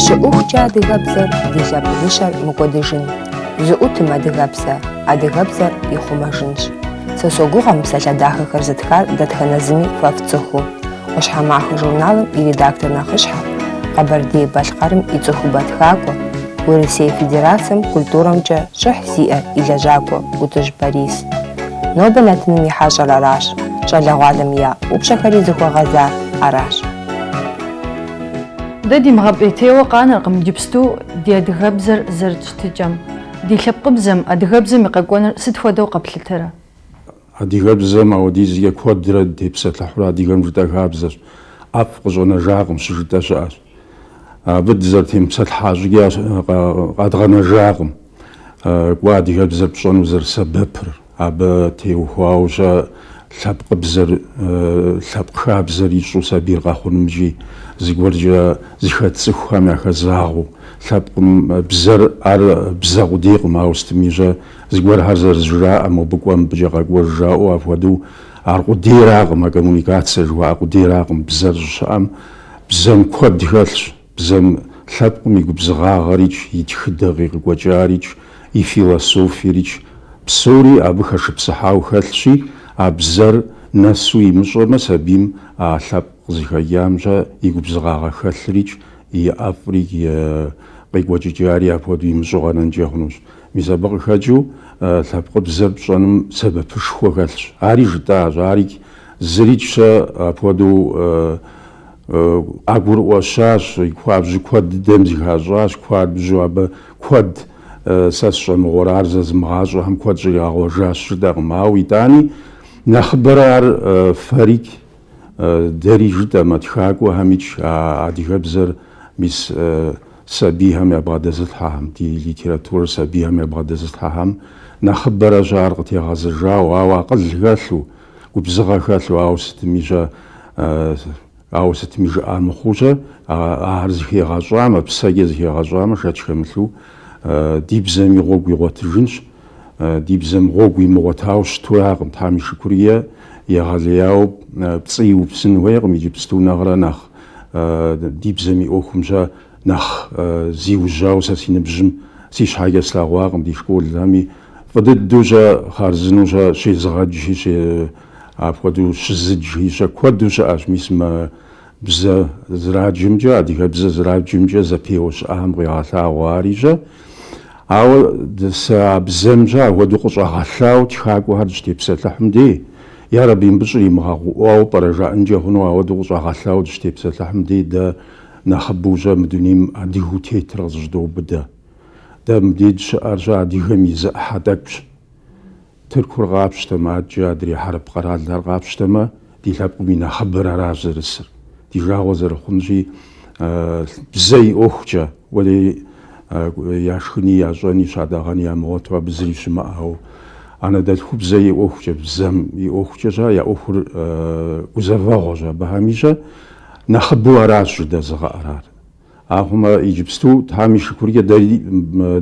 Щыӏэхукӏэ адыгэбзэр ди лъэпкъыншэр мыкӏуэдыжын, зыӏутым адыгэпсэ, адыгэбзэр ихъумэжынщ. Сэ согугъэ мы псалъэ дахэхэр зытхар дэтхэнэ зыми фэ фцӏыхуу. Ӏуащхьэмахуэ журналым и редактор нэхъыщхьэ, Къэбэрдей-Балъкъэрым и цӏыхубэ тхакӏуэ, Урысей Федерацием культурэмкӏэ щӏыхь зиӏэ и лэжьакӏуэ Ӏутӏыж Борис. Нобэ нэтыным и хьэщӏэр аращ, щӏалэгъуалэм я упщӏэхэри зыхуэгъэзар аращ. Дэ димыгъэпӏейтейуэ къанэркъым иджыпсту ди адыгэбзэр зэрыт щытыкӏэм, ди лъэпкъыбзэм, адыгэбзэм и къэкӏуэныр сыт хуэдэу къэплъытэрэ? Адыгэбзэм апхуэдизкӏэ куэдрэ дытепсэлъыхьурэ адыгэм жытӏэ хабзэщ, ӏэфӏ къыщӏэнэжакъым щыжытӏэ щыӏэщ. Абы дызэрытемыпсэлъыхьа щӏыкӏэ къэдгъэнэжакъым кӏуэ адыгэбзэр пщӏэну зэрысэбэпыр, абы теухуауэ-щэ лъэпкъыбзэр, лъэпкъ хабзэр ищӏу сабийр къэхъунымкӏи зыгуэркӏэ зыхэт цӏыхухэм яхэзагъэу. Лъэпкъым бзэр ар бзэ къудейкъым, ауэ сытми-щэ Зыгуэрхэр зэрызжраӏэ, мобы кӏуэ, мыбыкӏэ къэкӏуэж жаӏэу апхуэдэу, ар къудейракъым, а коммуникацие жыхуаӏэ къудейракъым, бзэр щыщыӏэм, бзэм куэд хэлъщ, бзэм лъэпкъым и губзыгъагъэрикӏ, и тхыдэ къикъыкӏуэкӏарикӏ, и философиерикӏ, псори абы хэшыпсыхьауэ хэлъщи, а бзэр нэсу имыщӏэмэ, сабийм а лъэпкъ къызыхэкӏам-щэ и губзыгъагъэ хэлъырикӏ, и ӏэфӏрикӏ, и къекӏуэкӏыкӏари апхуэдэу имыщӏэу къэнэнкӏэ хъунущ. Мис абы къыхэкӏыу лъэпкъыбзэр пщӏэным сэбэпышхуэ хэлъщ. Ари жытӏащ, ари зырикӏ-щэ апхуэдэу къагурыӏуэщащ, хуабжьу куэд дыдэм зыхащӏащ, хуабжьу абы куэд сэ сщӏэ мыгъуэрэ, ар зэзымыгъащӏэхэм куэд щӏригъэгъуэжащ жытӏэкъым. Ауэ итӏани, нэхъыбэрэ ар фэрикӏ Дэри жытӏэмэ, тхакӏуэхэмикӏ адыгэбзэр мис сабийхэм ябгъэдэзылъхьэхэм, ди литературэр сабийхэм ябгъэдэзылъхьэхэм нэхъыбэрэ-щэ ар къытегъэзэжауэ, ауэ акъыл хэлъу, губзыгъэ хэлъу, ауэ сытми-щэ, ауэ сытми жыӏа мыхъуу-щэ, ахэр зыхегъэщӏамэ, псэкӏэ зыхегъэщӏамэ, шэч хэмылъу ди бзэми гъуэгу игъуэтыжынщ. Ди бзэм гъуэгу имыгъуэтауэ щытуракъым, Тхьэм и шыкур е, егъэлеяуэ пцӏы иупсын хуейкъым, иджыпсту нэхърэ нэхъ ди бзэм и ӏуэхум-щэ нэхъ зиужьауэ сэ си ныбжьым си щхьэкӏэ слъэгъуакъым, ди школхэми фӏы дыдэу-щэ, хъарзынэу-щэ щезыгъэджи, апхуэдэу щызыджи-щэ куэду щыӏэщ, мис мы Бзэ зраджэмкӏэ, адыгэбзэ зраджэмкӏэ зэпеуэ щыӏэхэм къегъэлъагъуэ ари-щэ. Ауэ сэ а бзэмкӏэ ахуэдэу къыщӏэгъэлъауэ тхакӏуэхэр дыщытепсэлъыхьым дей, ярэби, мыбы щӏримыгъэгъуӏуауэ пӏэрэ жаӏэнкӏэ хъуну ауэдэу къыщӏэгъэлъауэ дыщытепсэлъыхьым дей, дэ нэхъыбэу-щэ мы дунейм адыгэу тетыр къызыщыдоубыдэ. Дэ мыбдеж щыӏэр-щэ адыгэм и зы ӏыхьэ тӏэкӏущ. Тыркур къапщтэмэ, адэкӏэ адрей хьэрып къэралхэр къапщтэмэ, ди лъэпкъым и нэхъыбэр аращ зэрысыр. Ди жагъуэ зэрыхъунщи, бзэ и ӏуэхукӏэ, уэри яшхыни, ящӏэни, щадэгъэни ямыгъуэту абы зыри щымыӏэу, анэдэлъхубзэ и ӏуэхукӏэ, бзэм и ӏуэхукӏэ щэ, я ӏуэхур гузэвэгъуэщ абыхэми щэ, нэхъыбэу аращ жыдэзыгъэӏэр ар. Ахъумэ, иджыпсту Тхьэм и шыкуркӏэ дэри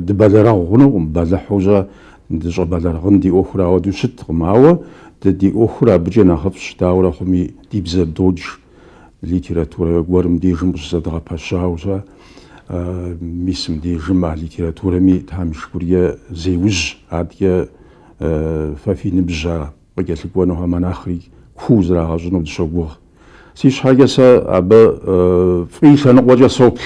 дыбэлэрыгъ хъунукъым, бэлыхьу-щэ дыщӏэбэлэрыгъын ди ӏуэхур ауэдэу щыткъым. Ауэ дэ ди ӏуэхур абыкӏэ нэхъыфӏщ, дауэрэ хъуми ди бзэ додж литературэ гуэрым дежым къыщызэдгъэпэщауэ-щэ. Мис мыбдежым а литературэми Тхьэм и шыкуркӏэ зеужь, адэкӏэ фэ фи ныбжь ара? Къыкӏэлъыкӏуэнухэм нэхъри куу зрагъэщӏыну дыщогугъ. Си щхьэкӏэ сэ абы фӏы и лъэныкъуэкӏэ соплъ.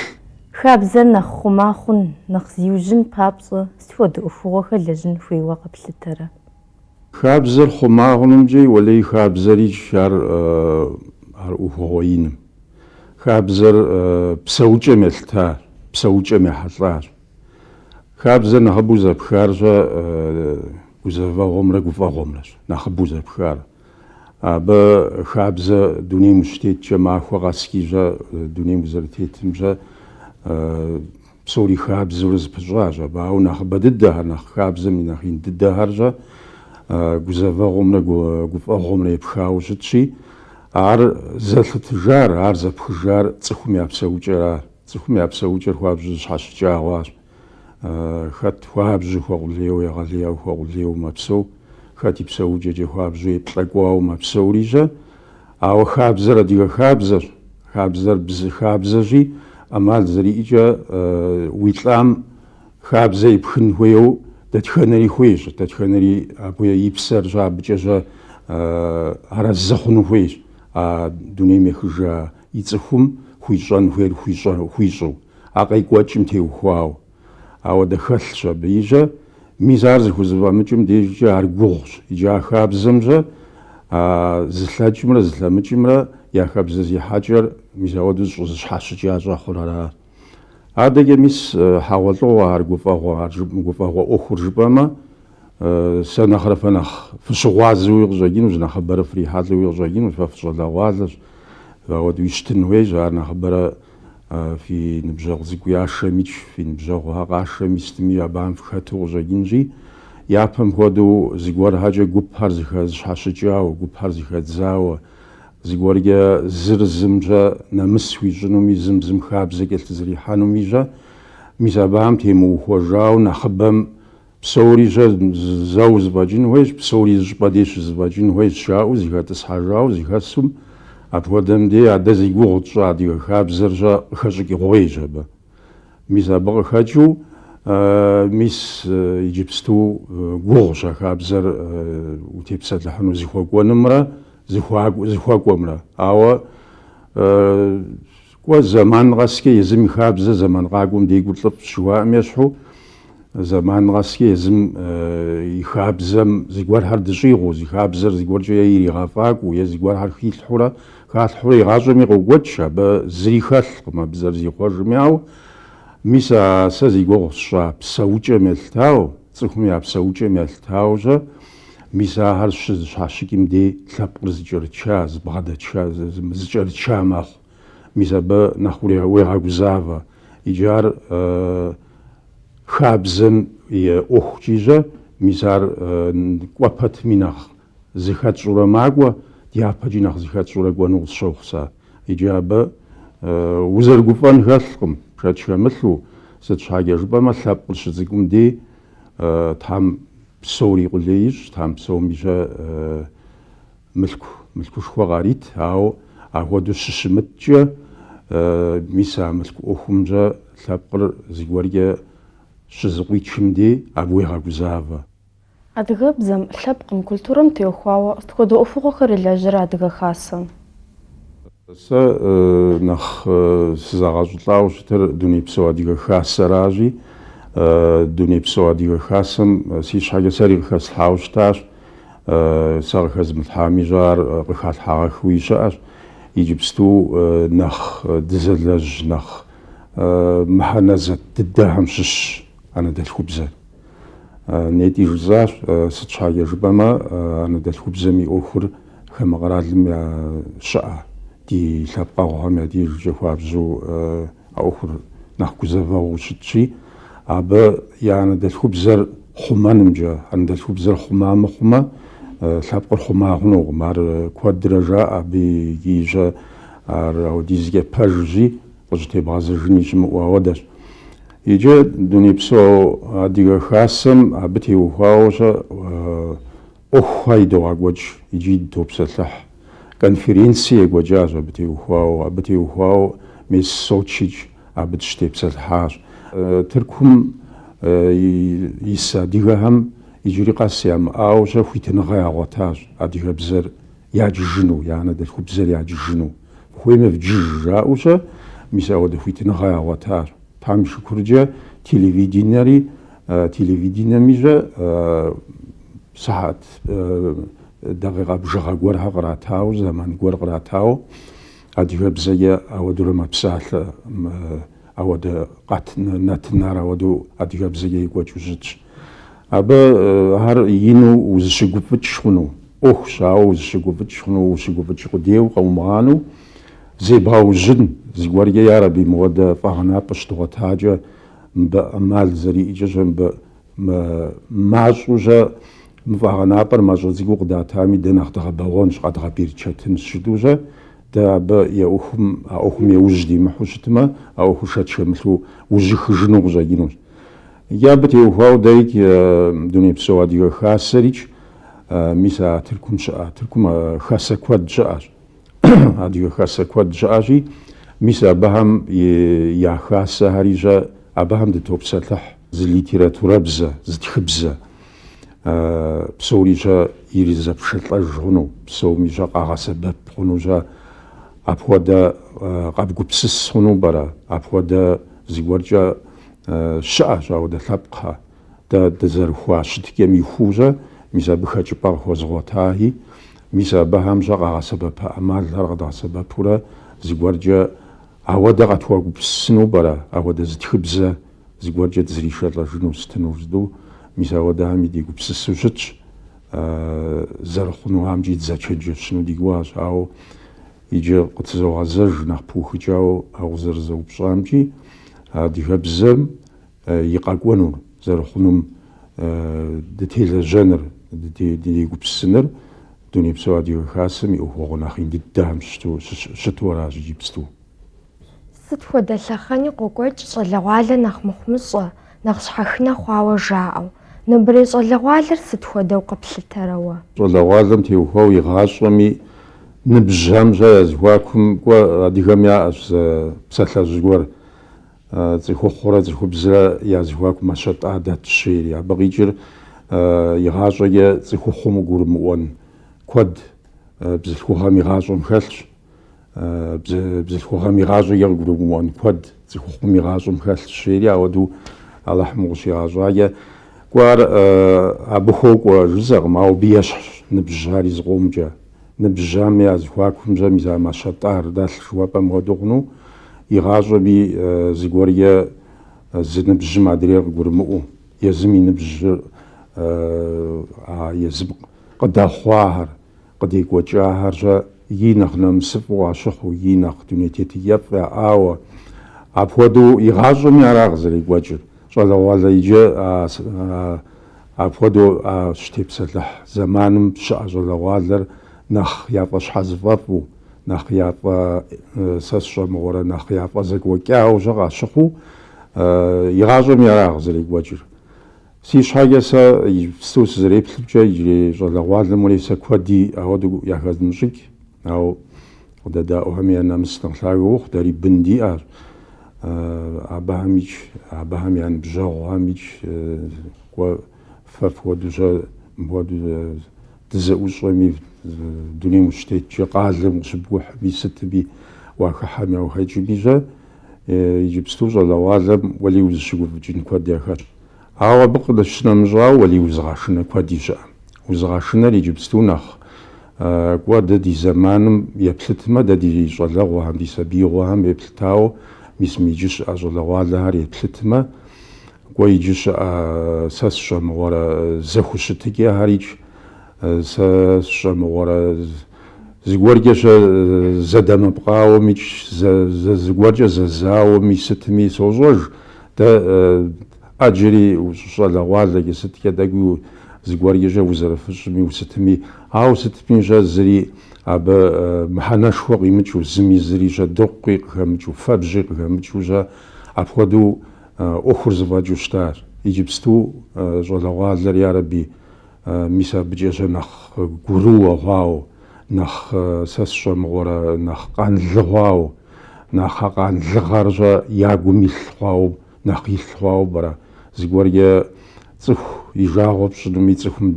Хабзэр нэхъ хъума хъун, нэхъ зиужьын папщӏэ сыт хуэдэ ӏуэхугъуэхэр лэжьын хуейуэ къэплъытэрэ? Хабзэр хъума хъунымкӏи, уэлей хабзэрикӏ ар ар ӏуэхугъуэ иным. Хабзэр псэукӏэм елъытащ, псэукӏэм ехьэлӏащ. Хабзэр нэхъыбэу зэпхар щэ гузэвэгъуэмрэ гуфӏэгъуэмрэщ, нэхъыбэу зэпхар. Абы хабзэ дунейм ущытеткӏэ, махуэ къэскӏи щэ дунейм узэрытетым щэ псори хабзэурэ зэпыщӏащ. Абы ауэ нэхъыбэ дыдэхэр, нэхъ хабзэм и нэхъ ин дыдэхэр щэ гузэвэгъуэмрэ гуфӏэгъуэмрэ епхауэ щытщи, ар зэлъытыжар, ар зэпхыжар цӏыхум я псэукӏэращ. Цӏыхум я псэукӏэр хуабжьу зэщхьэщыкӏа хъуащ. Хэт хуабжьу хуэкъулейуэ, егъэлеяуэ хуэкъулейуэ мэпсэу, хэти псэукӏэкӏэ хуабжьу еплӏэкӏуауэ мэпсэури щэ. Ауэ хабзэр адыгэ хабзэщ. Хабзэр зы хабзэщи, ӏэмал зэриӏэкӏэ уи лӏам хабзэ епхын хуейуэ дэтхэнэри хуейщ, дэтхэнэри абы и псэр щэ абыкӏэ щэ арэзы хъуну хуейщ а дунейм ехыжа и цӏыхум хуищӏэн хуейр хуищӏэу, а къекӏуэкӏым теухуауэ. Ауэ дэ хэлъщ абы щэ. Мис ар зыхузэфӏэмыкӏым дежкӏэ ар гугъущ, иджы а хабзэм щэ а зылъэкӏымрэ зылъэмыкӏымрэ я хабзэзехьэкӏэр мис ауэдэу зыщӏызэщхьэщыкӏа щӏэхъур ара ар. Адэкӏэ мис хьэгъуэлӏыгъуэ ар гуфӏэгъуэ, ар гуфӏэгъуэ ӏуэхур жыпӏэмэ, Сэ нэхърэ фэ нэхъ фыщыгъуазэуи къыщӏэкӏынущ, нэхъыбэрэ фрихьэлӏэуи къыщӏэкӏынущ, фэ фыщӏалэгъуалэщ. Ахуэдэуи щытын хуейщ, ар нэхъыбэрэ фи ныбжьэгъу цӏыкӏу яшэми, фи ныбжьэгъухэ къашэми сытми абыхэм фыхэту къыщӏэкӏынщи, япэм хуэдэу зыгуэрхэкӏэ гупхэр зыхэ зыщхьэщыкӏауэ, гупхэр зыхэдзауэ, зыгуэркӏэ зыр зым щӏэ нэмыс хуищӏынуми, зым зым хабзэ кӏэлъызэрихьэнуми щӏэ. Мис абыхэм темыухуэжауэ нэхъыбэм Псори щӏэ зэуэ зыфӏэкӏын хуейщ, псори зы щӏыпӏэ дей щызыфӏэкӏын хуейщ, жаӏэу зыхэтӏысхьэжауэ зыхэсум, апхуэдэм дей а дэ зи гугъу тщӏы адыгэ хабзэр щӏэ къыхэщӏыкӏ гъуейщ абы. Мис абы къыхэкӏыу, мис иджыпсту гугъущ а хабзэр утепсэлъыхьыну зыхуэкӏуэнымрэ зыхуэкӏуэмрэ. Ауэ Кӏуэ, зэман къэскӏэ езым и хабзэ зэман къакӏуэм декӏур лӏыфӏщ жыхуаӏэм ещхьу, зэман къэскӏэ езым и хабзэм зыгуэрхэр дыщӏигъуу, зи хабзэр зыгуэркӏэ е иригъэфӏакӏуэу, е зыгуэрхэр хилъхьурэ, халъхьурэ игъащӏэми къокӏуэкӏ, абы зыри хэлъкъым абы зэрызихъуэжым. Ауэ мис а сэ зи гугъу сщӏа псэукӏэм елъытауэ, цӏыхум я псэукӏэм елъытауэщӏэ, мис ахэр щызыщхьэщыкӏым дей лъэпкъыр зыкӏэрыча, зыбгъэдэша, зы, зы, зыкӏэрыча мэхъу. мис абы нэхъ уегъэгузавэ. Икӏи ар хабзэм и ӏуэхукӏи щӏэ, мис ар кӏуэ пэтми нэхъ зыхэтщӏурэ макӏуэ, дяпэкӏи нэхъ зыхэтщӏурэ кӏуэну къысщохъу сэ. Икӏи абы узэрыгуфӏэн хэлъкъым, шэч хэмылъу, сыт щхьэкӏэ жыпӏэмэ, лъэпкъыр щыцӏыкӏум дей Тхьэм псори къулей ищӏ, Тхьэм псоми щӏэ Мылъку мылъкушхуэ къарит, ауэ ахуэдэу щыщымыткӏэ, мис а мылъку ӏуэхумкӏэ лъэпкъыр зыгуэркӏэ щызыкъуичым дей, абы уегъэгузавэ. Адыгэбзэм, лъэпкъым, культурэм теухуауэ сыт хуэдэ ӏуэхугъуэхэр илэжьэрэ Адыгэ Хасэм? Сэ нэхъ сызэгъэщӏылӏауэ щытыр Дунейпсо Адыгэ Хасэращи, Дунейпсо Адыгэ Хасэм си щхьэкӏэ сэри къыхэслъхьауэ щытащ. сэ къыхэзмылъхьами, щӏэ ар къыхалъхьагъэхэуи щыӏэщ. Иджыпсту нэхъ дызэлэжь, нэхъ мыхьэнэ зэтт дыдэхэм щыщщ анэдэлъхубзэр. Нетӏи жысӏащ, сыт щхьэкӏэ жыпӏэмэ, анэдэлъхубзэм и ӏуэхур хамэ къэралым я щыӏэ, ди лъэпкъэгъухэм я дежкӏэ хуабжьу, А ӏуэхур нэхъ гузэвэгъуу щытщи, абы я анэдэлъхубзэр хъумэнымкӏэ, анэдэлъхубзэр хъума мыхъумэ, лъэпкъыр хъума хъунукъым. Ар куэдрэ жаӏэ абы икӏи щэ ар ауэдизкӏэ пэжщи, къыщӏытебгъэзэжыни щымыӏэу ауэдэщ. Иджы Дунейпсо Адыгэ Хасэм абы теухуауэ щэ ӏуэхухэ идогъэкӏуэкӏ икӏи дытопсэлъыхь. Конференци екӏуэкӏащ абы теухуауэ. Абы теухуауэ мес Сочикӏ абы дыщытепсэлъыхьащ. Тыркум ис адыгэхэм иджыри къэс ямыӏауэ щэ хуитыныгъэ ягъуэтащ адыгэбзэр яджыжыну, я анэдэлъхубзэр яджыжыну. Фыхуеймэ вджыж жаӏэу щэ мис ауэдэ хуитыныгъэ ягъуэтащ. Тхьэм и шыкуркӏэ телевиденэри Телевиденэми щэ сыхьат дакъикъэ бжыгъэ гуэрхэ къратауэ, зэман гуэр къратауэ адыгэбзэкӏэ ауэдурэ мэпсалъэ. Ауэдэ къэт нэтынхэр ауэдэу адыгэбзэкӏэ екӏуэкӏыу щытщ. Абы ар ину узыщыгуфӏыкӏ хъуну ӏуэхущ, ауэ узыщыгуфӏыкӏ хъуну, ущыгуфӏыкӏ къудейуэ къэумыгъанэу зебгъэужьын зыгуэркӏэ ар абы и мыуэдэ фӏэгъэнапӏэ щыдгъуэтакӏэ мыбы ӏэмал зэриӏэкӏэ щэ, мыбы мащӏэу щэ мы фӏэгъэнапӏэр мащӏэ цӏыкӏуу къыдатами, дэ нэхъ дгъэбэгъуэнщ, къэдгъэберычэтынщ жытӏэу щэ, дэ абы а ӏуэхум, а ӏуэхум яужь димыхьэу щытмэ, а ӏуэхур шэч хэмылъу ужьыхыжыну къыщӏэкӏынущ. Икӏи абы теухуауэ дэрикӏ Дунейпсо Адыгэ Хасэрикӏ, мис а Тыркум щыӏэ, Тыркум хасэ куэд щыӏэщ. Адыгэ хасэ куэд щыӏэщи, мис абыхэм я хасэхэри щэ, абыхэм дытопсэлъыхь зы литературэбзэ, зы тхыбзэ. Псори щэ иризэпшэлӏэж хъуну, псоми щэ къагъэсэбэп хъуну щэ. Апхуэдэ къэбгупсыс хъуну пӏэрэ? Апхуэдэ зыгуэркӏэ щыӏэщ, ауэдэ лъэпкъхэ. Дэ дызэрыхуа щытыкӏэм ихуэу щэ, мис абы хэкӏыпӏэ къыхуэзыгъуэтахэи, мис абыхэм щэ къагъэсэбэпа ӏэмалхэр къэдгъэсэбэпурэ зыгуэркӏэ ауэдэ къытхуэгупсысыну пӏэрэ, ауэдэ зы тхыбзэ зыгуэркӏэ дызэришэлӏэжыну сытыну жытӏэу, мис ауэдэхэми дегупсысу щытщ, зэрыхъунухэмкӏи дызэчэнджэщыну ди гугъэщ, ауэ иджы къытызогъэзэж нэхъ пыухыкӏауэ а укъызэрызэупщӏамкӏи, адыгэбзэм и къэкӏуэнур зэрыхъунум дытелэжьэныр, дегупсысыныр Дунейпсо Адыгэ Хасэм и ӏуэхугъуэ нэхъ ин дыдэхэм щыту аращ иджыпсту. Сыт хуэдэ лъэхъэни къокӏуэкӏ щӏалэгъуалэр нэхъ мыхъумыщӏэ, нэхъ щхьэхынэ хъуауэ жаӏэу. Нобэрей щӏалэгъуалэр сыт хуэдэу къыплъытэрэ уэ? Щӏалэгъуалэм теухуауэ игъащӏэми, ныбжьхэм-щэ я зэхуакум кӏуэ адыгэм яӏэщ зы псалъэжь гуэр. Цӏыхухъурэ цӏыхубзрэ я зэхуаку мащэ тӏа дэтщ жери. Абы къикӏыр игъащӏэкӏэ цӏыхухъум къыгурымыӏуэн куэд бзылъхугъэм игъащӏэм хэлъщ. Бзылъхугъэм игъащӏэкӏэ къыгурымыӏуэн куэд цӏыхухъум игъащӏэм хэлъщ жери, ауэдэу Алыхьым къыщигъэщӏакӏэ, кӏуэ ар абы хуокӏуэ жысӏэкъым, ауэ абы ещхьщ ныбжьхэри зыкъомкӏэ. Ныбжьхэми я зэхуакум-щэ мис а мащэ тӏар дэлъ жыуэпӏэм хуэдэу хъуну? Игъащӏэми, зыгуэр е зы ныбжьым адрейр къыгурымыӏуэу, езым и ныбжьыр а езым къыдэхъуахэр, къыдекӏуэкӏахэр-щэ и нэхъ нэмысыфӏу къащыхъуу, и нэхъ дуней тетыкӏэфӏ яӏауэ. Апхуэдэу игъащӏэми ара къызэрекӏуэкӏыр, щӏалэгъуалэ иджы а Апхуэдэу а щытепсэлъыхь зэманым щыӏэ щӏалэгъуалэр нэхъ яфӏэщхьэзыфӏэфӏу, нэхъ яфӏэ, сэ сщӏэмыгъуэрэ, нэхъ яфӏэ зэкӏуэкӏауэ-щэ къащыхъуу, игъащӏэми ара къызэрекӏуэкӏыр. Си щхьэкӏэ сэ иджыпсту сызэреплъымкӏэ, иджырей щӏалэгъуалэм уэли сэ куэди ауэдэу яхэзмыщӏыкӏ, ауэ. Къыдэдаӏуэхэми я нэмыс нэхъ лъагэ ухъу, дэри бын диӏэщ абыхэмикӏ, абыхэм я ныбжьэгъухэмикӏ, кӏуэ, фэ фхуэдэу-щэ, мыпхуэдэу дызэӏущӏэми, дунейм ущытеткӏэ, къалэм къыщыпкӏухьми, сытми уахыхьэми уахэкӏми-щэ, иджыпсту щӏалэгъуалэм уэли узыщыгуфӏыкӏын куэд яхэтщ. Ауэ абы къищынэмыщӏауэ уэли узыгъэшынэ куэди щыӏэ. Узыгъэшынэр иджыпсту нэхъ кӏуэ дэ ди зэманым еплъытмэ, дэ ди щӏалэгъуэхэм, ди сабиигъуэхэм еплъытауэ мис мы иджы щыӏэ щӏалэгъуалэхэр еплъытмэ, кӏуэ иджы щыӏэ сэ сщӏэмыгъуэрэ зэхущытыкӏэхэрикӏ, сэ сщӏэмыгъуэрэ зыгуэркӏэ-щэ зэдэмыпкъауэмикӏ, зыгуэркӏэ зэзауэми сытми сощӏэж. Дэ Ӏэджэри ущыщӏалэгъуалэкӏэ, сыткӏэ тӏэкӏуи зыгуэркӏэ-щэ узэрыфыщӏми, усытми. Ауэ сытми-щэ, зыри абы мыхьэнэшхуэ къимыкӏыу, зыми зыри-щэ дыркъуи къыхэмыкӏыу, фэбжьи къыхэмыкӏыу-щэ, апхуэдэу ӏуэхур зэфӏэкӏыу щытащ. Иджыпсту щӏалэгъуалэр, ярэби, мис абыкӏэ-щэ нэхъ гурыуэ хъуауэ, нэхъ, сэ сщӏэмыгъуэрэ, нэхъ къанлы хъуауэ, нэхъ а къанлыгъэр-щэ я гум илъ хъуауэ, нэхъ илъ хъуауэ пӏэрэ? Зыгуэркӏэ цӏыху и жагъуэ пщӏынуми, цӏыхум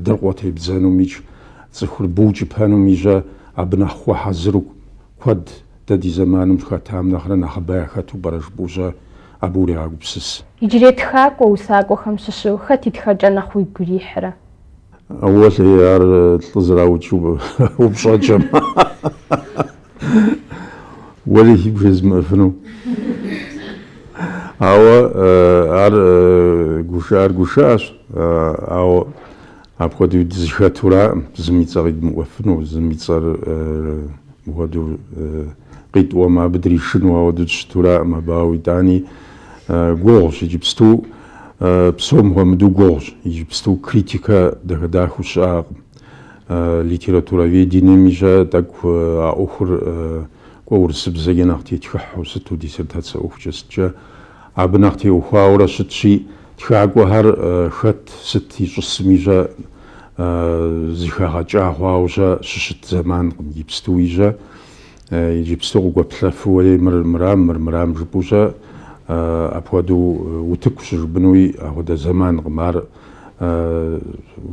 дыркъуэ тебдзэнумикӏ, цӏыхур букӏыпэнуми щэ абы нэхъ хуэхьэзыру куэд дэ ди зэманым хэтам нэхърэ нэхъыбэ яхэту пӏэрэ жыпӏэу щэ абы урегъэгупсыс. Иджырей тхакӏуэ усакӏуэхэм щыщу хэт и тхэкӏэ нэхъ уигу ирихьрэ? Уэлэхьи, ар лӏы зэраукӏыу упщӏэкӏэм. Уэри сигу жезымыӏэфыну. Ауэ ар гушыӏэр гушыӏэщ, ауэ апхуэдэу дызыхэтураӏым, зым и цӏэ къидмыӏуэфыну, зым и цӏэр мыхуэдэу къитӏуэмэ, абы дришыну, ауэдэу дыщытураӏым абы, ауэ итӏани гугъущ иджыпсту, псом хуэмыдэу гугъущ, иджыпсту критикэ дахэ-дахэу щыӏэкъым. Литературоведениеми щэ тӏэкӏу а ӏуэхур кӏуэ урысыбзэкӏэ нэхъ тетхыхьу сыту диссертацэ ӏуэхукӏэ сыткӏэ абы нэхъ теухуауэрэ щытщи, тхакӏуэхэр хэт, сыт ищӏысми щэ зыхэгъэкӏа хъуауэ щэ щыщыт зэманкъым, ипстуи щэ. Иджыпсту къыгуэплъэфу уэри мыр мырам, мыр мырам жыпӏу щэ, апхуэдэу утыку щыжыпӏынуи апхуэдэ зэманкъым ар.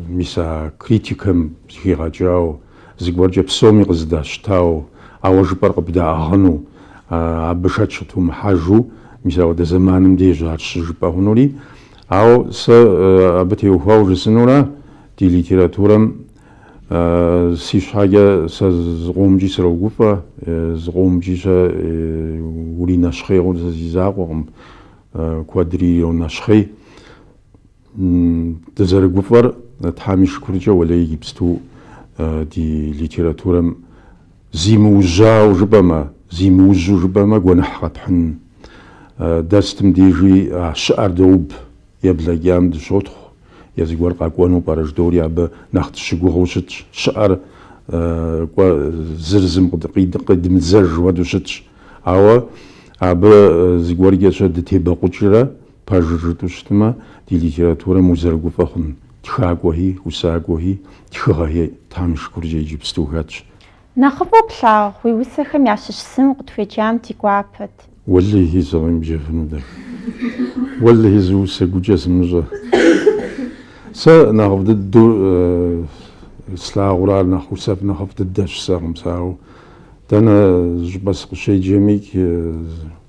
Мис а критикэм зыхигъэкӏауэ, зыгуэркӏэ псоми къызыдащтауэ, а уэ жыпӏэр къыбдаӏыгъыну, абы шэч къытумыхьэжу, мис апхуэдэ зэманым деж ар щыжыпӏэ хъунури. Ауэ сэ абы теухуауэ жысӏэнурэ, ди литературэм, Си щхьэкӏэ сэ зыкъомкӏи срогуфӏэ, зыкъомкӏи щэ уринэщхъейуэ, сэ си закъуэкъым, куэдри йонэщхъей. Дызэрыгуфӏэр Тхьэм и шыкуркӏэ уэлэи гипсту ди литературэм зимыужьауэ жыпӏэмэ, зимыужьу жыпӏэмэ гуэныхь къэпхьын. Дэ сытым дежи а щыӏэр доуб, Еблэкӏам дыщотхъу, е зыгуэр къэкӏуэну пӏэрэ ждори абы нэхъ дыщыгугъыу щытщ, щыӏэр кӏуэ зыр зым къидмыдзэж хуэдэу щытщ. Ауэ абы зыгуэркӏэ-щэ дытебэкъукӏрэ пэжыр жытӏэу щытмэ, ди литературэм узэрыгуфӏэ хъун тхакӏуэхи, усакӏуэхи, тхыгъэхи Тхьэм и шыкуркӏэ иджыпсту хэтщ. Нэхъыфӏу плъагъу, уи усэхэм ящыщ зым укъытхуеджам ди гуапэт. Уэлэхьи, сыкъемыджэфыну дэ. Уэлэхьи, зы усэ гукӏэ сымыщӏэ. Сэ нэхъыфӏ дыдэу слъагъур ар нэхъ усэфӏ нэхъыфӏ дыдэ жысӏэкъым сэ, ауэ дэнэ щӏыпӏэ сыкъыщеджэми,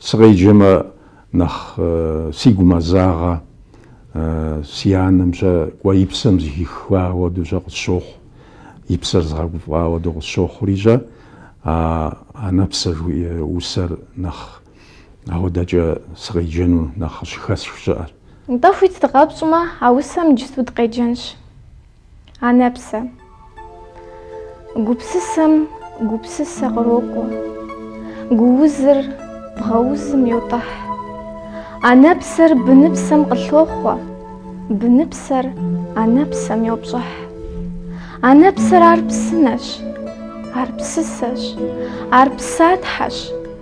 Сыкъеджэмэ, нэхъ сигу мэзагъэ, си анэм щэ кӏуэ и псэм зыхиха хуэдэу щэ къысщохъу, и псэр згъэгуфӏа хуэдэу къысщохъури щэ, а анэпсэ жыхуиӏэ усэр нэхъ ауэдэкӏэ сыкъеджэну нэхъ къыщыхэсх щыӏэр. Нтӏэ, хуит дыкъэпщӏмэ, а усэм иджысту дыкъеджэнщ. Анэпсэ. Гупсысэм гупсысэ кърокӏуэ, гуузыр бгъэузым йотӏыхь. Анэпсэр быныпсэм къылъохъуэ, быныпсэр анэпсэм йопщӏыхь. Анэпсэр ар псынэщ, ар псысэщ, ар псатхьэщ.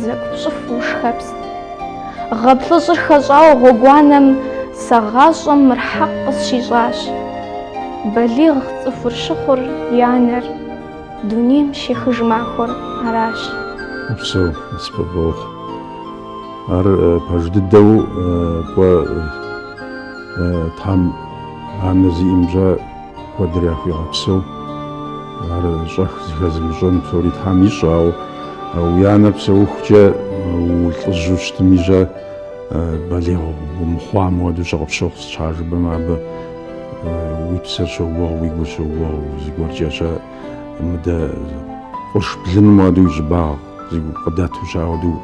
Зэкӏу пщӏыф ушхэпс. Гъэ плӏыщӏыр хэщӏауэ гъуэгуанэм сэ гъащӏэм мыр хьэкъ къысщищӏащ. Балигъ цӏыхур щыхъур и анэр дунейм щехыж махуэр аращ. Упсэу, сыпэбогъ. Ар пэж дыдэу кӏуэ, Тхьэм анэ зиӏэм щэ. Куэдрэ яхуигъэпсэу, ар щӏэх зыхэзымыщӏэн псори Тхьэм ищӏ, ауэ уи анэр псэухукӏэ улӏыжьу щытми щэ балигъ умыхъуам хуэдэу щэ къыпщохъу сыт щхьа жыпӏэмэ абы уи псэр щогугъ, уи гур щогугъ, зыгуэркӏэ щэ мыдэ къурш блыным хуэдэу уи щӏыбагъ къыдэту щэ ауэдэу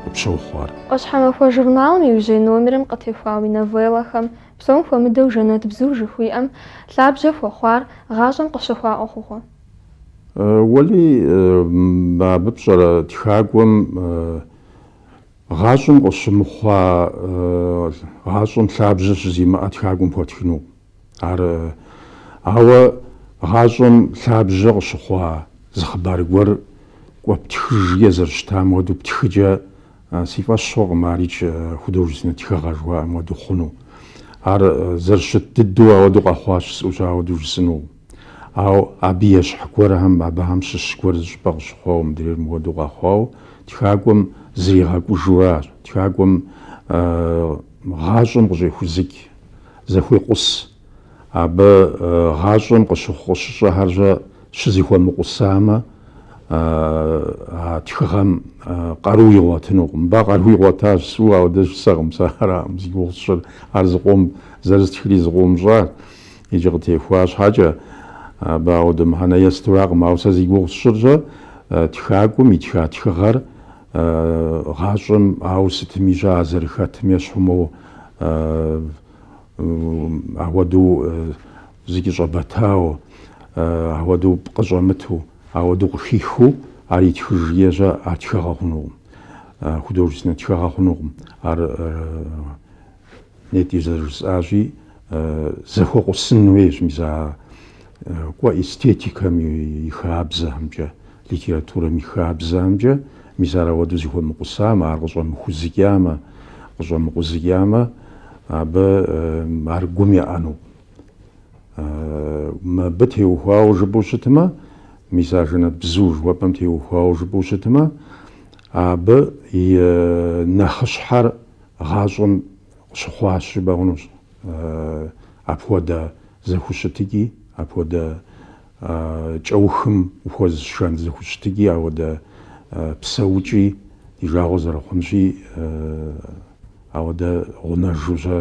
къыпщохъу ар. ӏуащхьэмахуэ журналым иужьей номерым къытехуа уи новеллэхэм Псом хуэмыдэу жэнэт бзу жыхуиӏэм лъабжьэ хуэхъуар гъащӏэм къыщыхъуа ӏуэхугъуэ. Уэли, абы пщӏэрэ тхакӏуэм гъащӏэм къыщымыхъуа гъащӏэм лъабжьэ щызимыӏэ тхакӏуэм хуэтхыну? Ар, ауэ гъащӏэм лъабжьэ къыщыхъуа зы хъыбар гуэр кӏуэ птхыж е зэрыщытам хуэдэу птхыкӏэ Си фӏэщ хъуркъым ар икӏи художественнэ тхыгъэ жыхуаӏэм хуэдэу хъуну. Ар зэрыщыт дыдэу ауэдэу къэхъуащ, жысӏэу щэ ауэдэу жысӏыну. Ауэ абы ещхь гуэрхэм, абыхэм щыщ гуэр зыщӏыпӏэ къыщыхъуауэ мыдрейр мыхуэдэу къэхъуауэ, тхакӏуэм зригъэкӏужу аращ, тхакӏуэм гъащӏэм къыщӏехузыкӏ, зэхуекъус. Абы гъащӏэм къыщыхъу къыщыщӏэхэрщӏэ щызыхуэмыкъусамэ, а тхыгъэм къару игъуэтынукъым. Мыбы а къару игъуэтащ, жысӏэу ауэдэ жысӏэркъым, сэ аракъым зи гугъу сщӏыр, ар зыкъом, зэрыстхрэ зыкъом щӏащ икӏи къытехуа щхьэкӏэ, абы ауэдэ мыхьэнэ есту аракъым. Ауэ сэ зи гугъу сщӏыр щэ тхакӏуэм итха тхыгъэр гъащӏэм, ауэ сытми щэ а зэрыхэтым ещхьумэу Ауэдэу зыкӏэщӏэбэтауэ, ауэдэу пкъы щӏэмыту, ауэдэу къыхихыу ар итхыжкӏэ щэ ар тхыгъэ хъунукъым, художественнэ тхыгъэ хъунукъым. Ар нетӏэ зэрыжысӏащи, зэхуэкъусын хуейщ мис а кӏуэ эстетикэм и хабзэхэмкӏэ. Литературэм и хабзэхэмкӏэ, мис ар ауэдэу зэхуэмыкъусамэ, ар къыщӏэмыхузыкӏамэ, къыщӏэмыкъузыкӏамэ, абы ар гум еӏэну. Мыбы теухуауэ жыпӏэу щытмэ, мис а жэнэтбзу жыхуэпӏэм теухуауэ жыпӏэу щытмэ, абы и нэхъыщхьэр гъащӏэм къыщыхъуащ жыпӏэ хъунущ. Апхуэдэ зэхущытыкӏи, апхуэдэ кӏэухым ухуэзышэн зэхущытыкӏи, ауэдэ псэукӏи, ди жагъуэ зэрыхъунщи, ауэдэ гъунэжу щэ,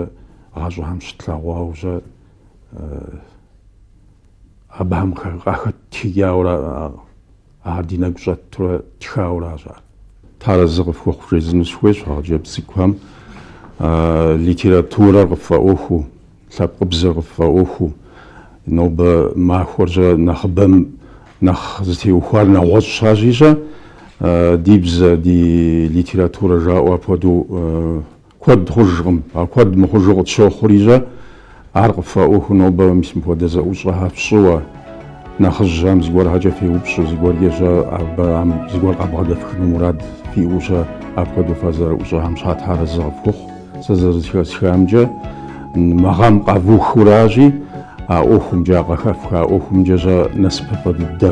гъащӏэхэм щытлъэгъуауэ щэ, абыхэм къахэттхыкӏауэ ара? Ар ди нэгу щӏэтурэ ттхауэ аращ ар. Тхьэр арэзы къыфхуэхъу жесӏэну сыхуейщ а хъыджэбз цӏыкӏухэм литературэр къыффӏэӏуэхуу, лъэпкъыбзэр къыффӏэӏуэхуу. Нобэ махуэркӏэ нэхъыбэм нэхъ зытеухуар нэгъуэщӏщ аращи щэ. Ди бзэ, ди литературэ жаӏэу апхуэдэу. Куэд хъужкъым, а куэд мыхъужу къытщохъури щэ, ар къыффӏэӏуэхуу нобэ мис мыпхуэдэ зэӏущӏэхэр фщӏыуэ, нэхъыжьхэм зыгуэрхэкӏэ феупщӏу, зыгуэркӏэ щэ абыхэм зыгуэр къабгъэдэфхыну мурад фиӏэу щэ, апхуэдэу фызэрыӏущӏэхэм щхьэ Тхьэр арэзы къыфхухъу, сэ зэрызэхэсхамкӏэ, мы гъэм къэвухыу аращи, а ӏуэхумкӏэ, а къыхэфха ӏуэхумкӏэ щэ насыпыфӏэ дыдэ.